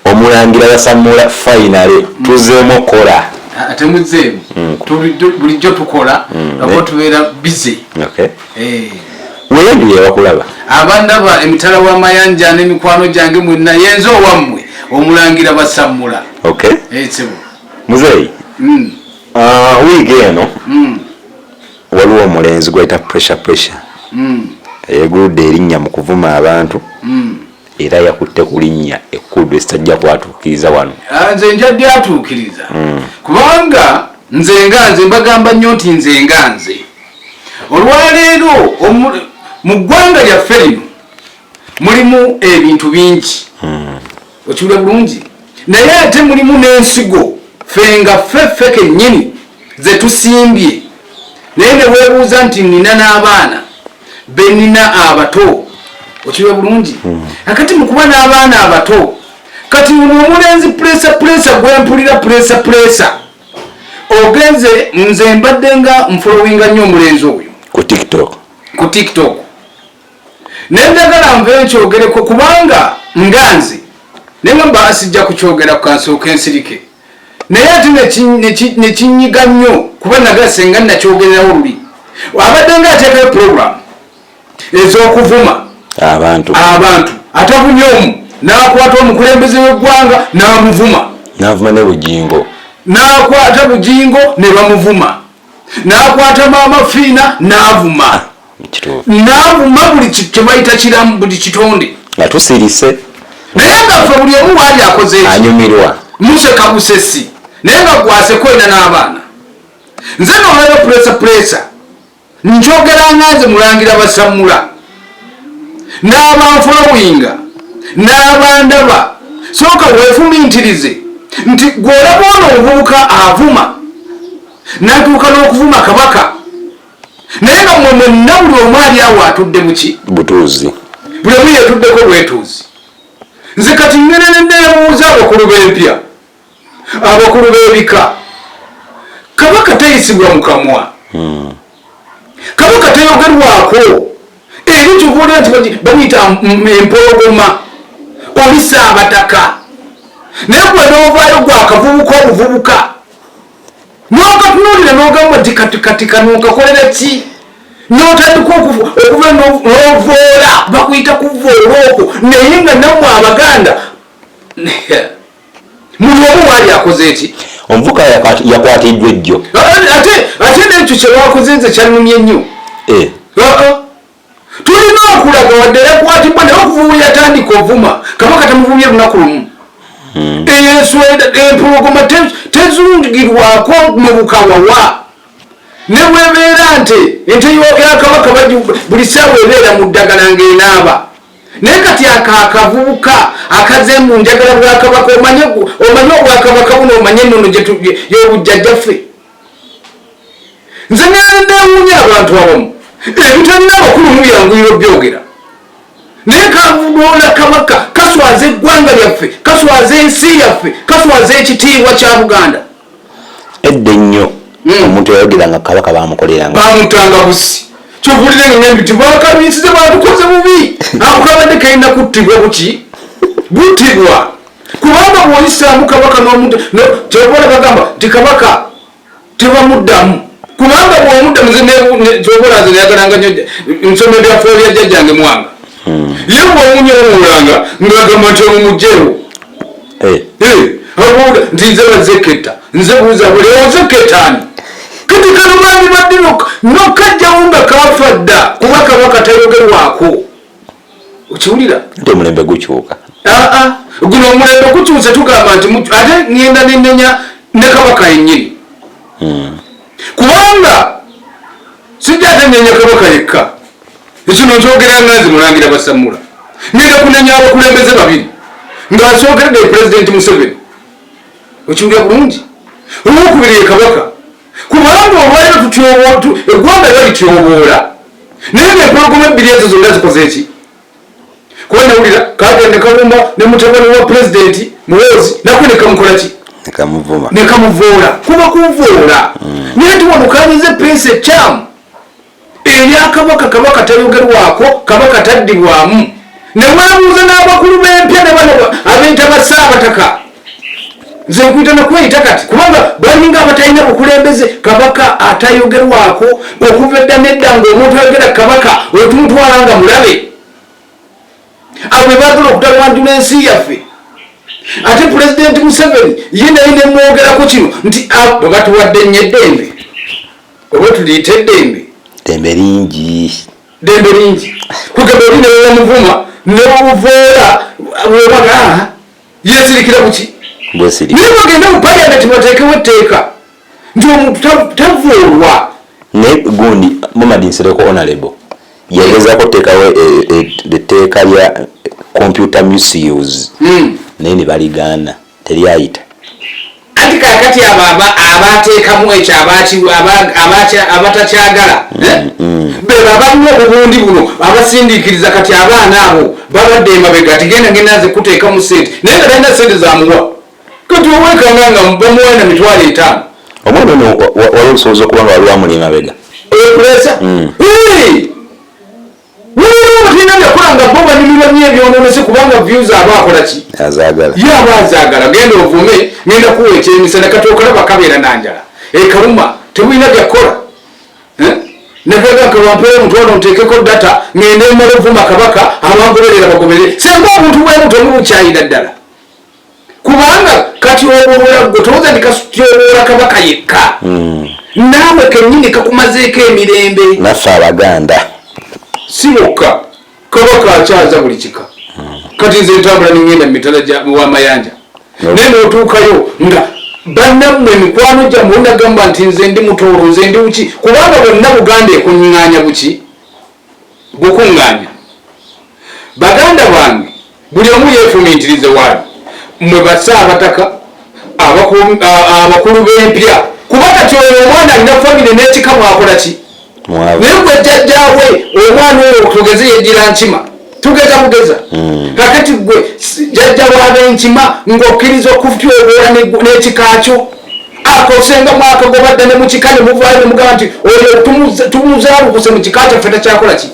Omulangira yasamula finally tuzemu okola. Ate muzemu mm. tulijo bulijo tukola mm. abo tubera busy. Okay. Eh. Wewe ndiye wakulaba. Abanda ba emitala wa mayanja ne mikwano jange mwenna yenzo wamwe omulangira basamula. Okay. Eh sebo. Muzei. Mm. Ah uh, wige eno. Mm. Waliwo omulenzi gwayita pressure pressure. Mm. Eyegude erinnya mu kuvuma abantu. Mm. era yakutte ku linnya ekkulu lye sitajja kwatuukiriza wano ah, nze nja lyatuukiriza hmm. kubanga nze nga nze mbagamba nnyo nti nze nga nze olwaleero mu ggwanga lyaffe lino mulimu ebintu bingi hmm. okiwula bulungi naye ate mulimu n'ensigo fe nga ffe ffe kennyini ze tusimbye naye ne weebuuza nti nnina n'abaana benina abato okiwe bulungi hmm. akati mukuba n'abaana abato kati uno omulenzi pulesa pulesa gwempulira pulesa pulesa ogenze nze mbadde nga nfolowinga nnyo omulenzi oyo ku tiktok ku tiktok naye njagala nve nkyogereko kubanga nganzi naye mwemba asijja kukyogera ku kansooka ensirike naye ate nekinyiga nnyo kuba naga senga nakyogererawo luli abadde nga ateekayo program ez'okuvuma abantu abantu atavumye omu n'akwata omukulembeze w'eggwanga n'amuvuma n'avuma ne bugingo n'akwata bugingo ne bamuvuma nakwata maama fiina navuma navuma buli kyebayita kiramu buli kitonde nga tusirise naye nga fe buli omu waali akoze anyumirwa museka busesi naye nga gwase kwenda n'abaana nze nolaba puresa puresa njogeranga nze mulangira basamula n'abanfolowinga n'abandaba sooka weefumintirize nti gw'olaba ono omuvubuka avuma n'atuuka n'okuvuma kabaka naye nga mwe mwenna buli omu ali awo atudde muki butuuzi buli omu yeetuddeko bwetuuzi nze kati ngenenedde ebuuza abakulu b'empya abakulu b'ebika kabaka tayisibwa mu kamwa hmm. kabaka tayogerwako eri kyobola nti bamuyita empologoma olisa abataka naye gwe n'ovaayo gwakavubuka obuvubuka n'okatunuulira n'ogamba nti katikatika n'okakolera ki notandika okuva novoola bakuyita kuvoola okwo naye nga namwe abaganda muli omu waali akoze eki omuvuka yakwatiddwa ejjo ate ate nekyo kyewakoze nze kyanumye nnyo eh. tulina okulaga wadde yakwatibwa naye okuvumu yatandika ovuma kabaka tamuvumye lunaku lumu hmm. eyensweda empologoma tezungirwako mubukawawa nebwebeera nti ente yakabaka buli saawa ebeera mu ddagala ngaenaaba naye kati ako akavubuka akaze mu njagala bwakabaka omanye obwakabaka buno omanye enono yobujjajjaffe nze nandewunya abantu abamu ebitalina abakulu mubyanguyiro byogera naye kavudoola kabaka kaswaza eggwanga lyaffe kaswaza ensi yaffe kaswaza ekitiibwa kya buganda edda ennyo hmm. omuntu yayogera nga kabaka bamukoleranga bamutanga busi kyovulire ngambi ti bakabiisize batukoze bubi ako kabadde kalina kuttibwa buki buttibwa kubanga bwoyisaamu kabaka nomuntu kyobola bagamba ti kabaka tebamuddamu kubanga bwomuddamu kyobola nze nayagalanga nyo nsoma ebyafuo bya jjajjange mwanga hmm. ye bwomunyowulanga ngagamba nti omumugjewo eh. nti nze bazeketa nze buuza buli ozeketani kati kano bandi badde nokajjawo nga kafa dda kuba kaba katayogerwako okiwulira nti omulembe gukyuka aa ah, ah. guno omulembe gukyuse tugamba nti ate ngenda nenenya ne kabaka yenyini hmm. kubanga sijja ate nenya kabaka yekka ekino nkyogera nga nze mulangira basamula ngenda kunenya abakulembeze babiri nga nsogeredde pulezidenti museveni okiwulira bulungi olwokubiri ye kabaka kubanga olwaliro tutyobootu eggwanga lyo lityoboola naye ngempologoma ebbiri ezo zonna zikoze eki kuba nawulira kagende kalumba ne mutabani wa pulezidenti muwoozi nako nekamukola ki nekamuvoola kuba kuvoola mm. naye tiwanukanyiza epensi ekyamu Ebya Kabaka, Kabaka tayogerwako, Kabaka taddibwamu. Ne weebuuza n'abakulu b'empya ne bano abeeyita ba Ssaabataka. Nze nkuyita na kweyita kati kubanga balinga abatalina bukulembeze. Kabaka atayogerwako okuva edda n'edda ng'omuntu ayogera Kabaka otumutwala nga mulabe. Abo be baagala okutabanjula ensi yaffe. Ate Pulezidenti Museveni ye naye ne mwogerako kino nti ah, bwe batuwadde nnyo eddembe. owetuliyita eddembe dembe lingi dembe lingi kugamba oli newewamuvuma newuvoola wewaga yesirikira kuki naye bagenda mu paliamenti bateekewo etteeka nti omuntu tavuulwa naye gundi mamadi nsereko onalebo yagezako tekawo etteeka lya computer misuse hmm. naye ne baligaana teryayita. Anti kakati abo abateekamu ekyo abatakyagala mm, eh? mm. bebo abalimu obubundi buno abasindiikiriza kati abaana abo babadde emabega tigenda ngenda nze kuteekamu sente naye nga talina sente zamuwa kati owekanga nga bamuwana mitwalo etaano omwana ono wali olusoboza okuba nga waliwo amuli emabega okulesa mm. Waliwo abalina byakula nga bo banyumirwa nyo ebyononese kubanga views aba akola ki? Azagala. Ye aba azagala genda ovume ngenda kuwa ekyemisana kati okalaba kabeera na njala. Ekaluma tebulina byakola. Eh? Nagaga nkabampere omutwalo nteekeko data ngende emala ovuma kabaka abangoberera bagoberere. Senga obuntu bwebuto mubukyayira ddala. kubanga kati obubula gwe towooza ndi katyoboola kabaka yekka hmm. naawe kennyini kakumazeeko emirembe naffe abaganda si bokka kabaka akyaza buli kika hmm. kati nze ntambula ningenda mu mitala wamayanja naye notuukayo nga bannamwe mikwano gyamu onagamba nti nze ndi mutoolo nze ndi buki kubanga bonna buganda ekunying'anya buki gukuŋŋaanya baganda bange buli omu yeefumiitirize waali mwe basa abataka abakulu b'empya kuba kati oyo omwana alina famire n'ekika mwakola ki naye gwe jjajjaawe omwana oyo tugeze yejjira nkima tugeza bugeza hmm. kakati gwe jajja wabenkima ng'okkiriza okutyoboola n'ekika kyo akosenga mwaka gwobadde ne mukika ne muvaayo ne mugamba nti oyo tumuzaalukuse mu kika kyaffe takyakola ki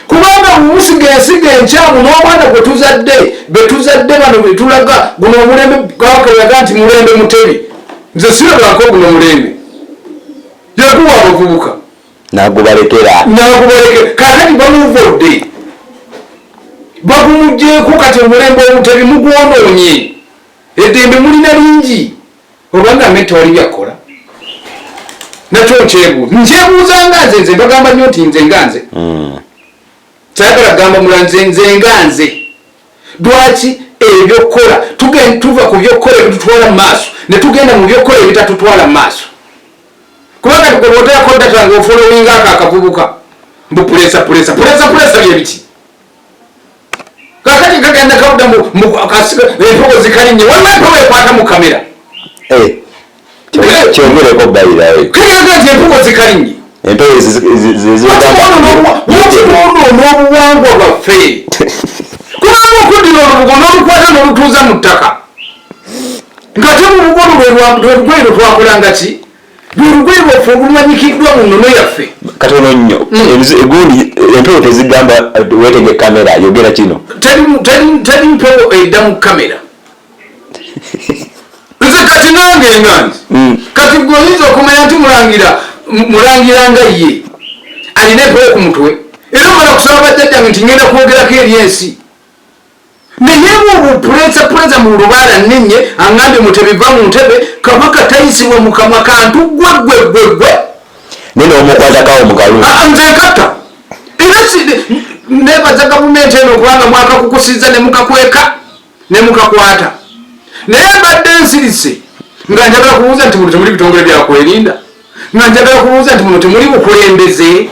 kubanga mumusiga ensiga enkyamu n'omwana gwe tuzadde be tuzadde bano be tulaga guno omulembe gawakalaga nti mulembe mutebi nze sirabako guno omulembe yakuwa abavubuka nagubalekera nagubalekera kakati bamuvudde bagumugyeko kati omulembe omutebi mugwonoonye eddembe mulina lingi obanga ame tewali byakola nakyo nkyebuuza nkyebuuza nga nze nze bagamba nnyo nti nze nga nze hmm. sayagala kugamba mula nze nze nga nze lwaki ebyokukola tugenda tuva ku byokukola ebitutwala mu maaso ne tugenda mu byokukola ebitatutwala mu maaso kuba kati gwe bwoteerako data nga ofolowinga ako akavubuka mbu pulesa pulesa pulesa pulesa byebiki kakati kagenda kawuda mu empewo zikalinye waliwo empewo ekwata mu kamera eh. kyongereko bayirawe kayanga nti empuko zikalinye empewo zeziwakibona onobuwangwa bwaffe kubanga okuddira olubugo n'olukwata n'olutuuza mu ttaka nga te mu bugo lwelugwayi lwe twakolanga ki lwelugwayi lwaffe olumanyikiddwa mu nnono yaffe katono nnyo hmm. egundi empewo tezigamba eh, wetege kamera yogera kino teri mpewo edda mu kamera nze kati nange nga nti hmm. kati gwe oyinza okumanya nti mulangira mulangira nga ye alina ebbala ku mutwe era omala kusaba bajjajjange nti ngenda kwogerako eri ensi naye obwo puleza puleza mu lubaala ninye angambye mutebiva mu ntebe kabaka tayisibwa mukamwa kantu gwe gwe gwe gwe nene omukwatakawo mukalu ah, ah, nze nkata era nebaza gavumenti eno kubanga mwakakukusiza ne mukakweka ne mukakwata naye mbadde nsirise nga njagala kubuuza nti muno temuli bitongole byakwerinda nga njagala kubuuza nti muno temuli bukulembeze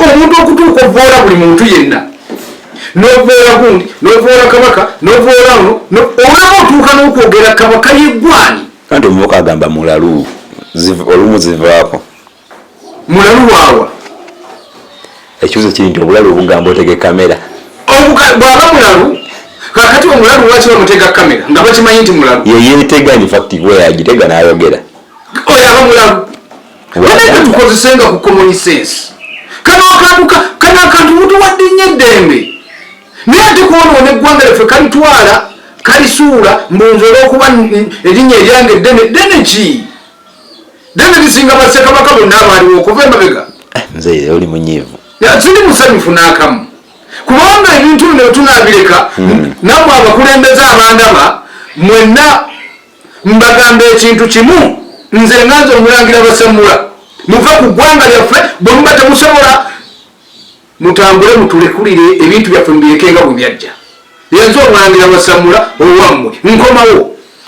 omuntu okutuuka ovoola buli muntu yenna novoola gundi novoola kabaka novoola ono olaba otuuka n'okwogera kabaka yeggwani kandi omubuka agamba mulalu olumu zivaako mulalu waawa ekibuzo kiri nti obulalu obugamba otege kamera bwaba mulalu kakati omulalu lwaki bamutega kamera nga bakimanyi nti mulalu yeyetega infact weyagitega nayogera oyo aba mulalu naeka tukozesenga ku common sense kano akantu kano akantu mutuwadde nnyo eddembe naye ate kwonoona eggwanga lyaffe kalitwala kalisuula mbunze olwokuba erinnya eryange eddene ddene ki David Singa basse kabaka bonna abaaliwo okuva emabega. Eh, nze yeye oli munyivu. Ya tuli musanyufu n'akamu. Kubanga ebintu bino tunaabireka hmm. namwe abakulembeze abandaba mwenna mbagamba ekintu kimu nze nganze omulangira basemula muve ku ggwanga lyaffe bwe muba temusobola mutambule mutulekulire ebintu byaffe mubirekenga bwe byajja yenze omulangira basemula owammwe nkomawo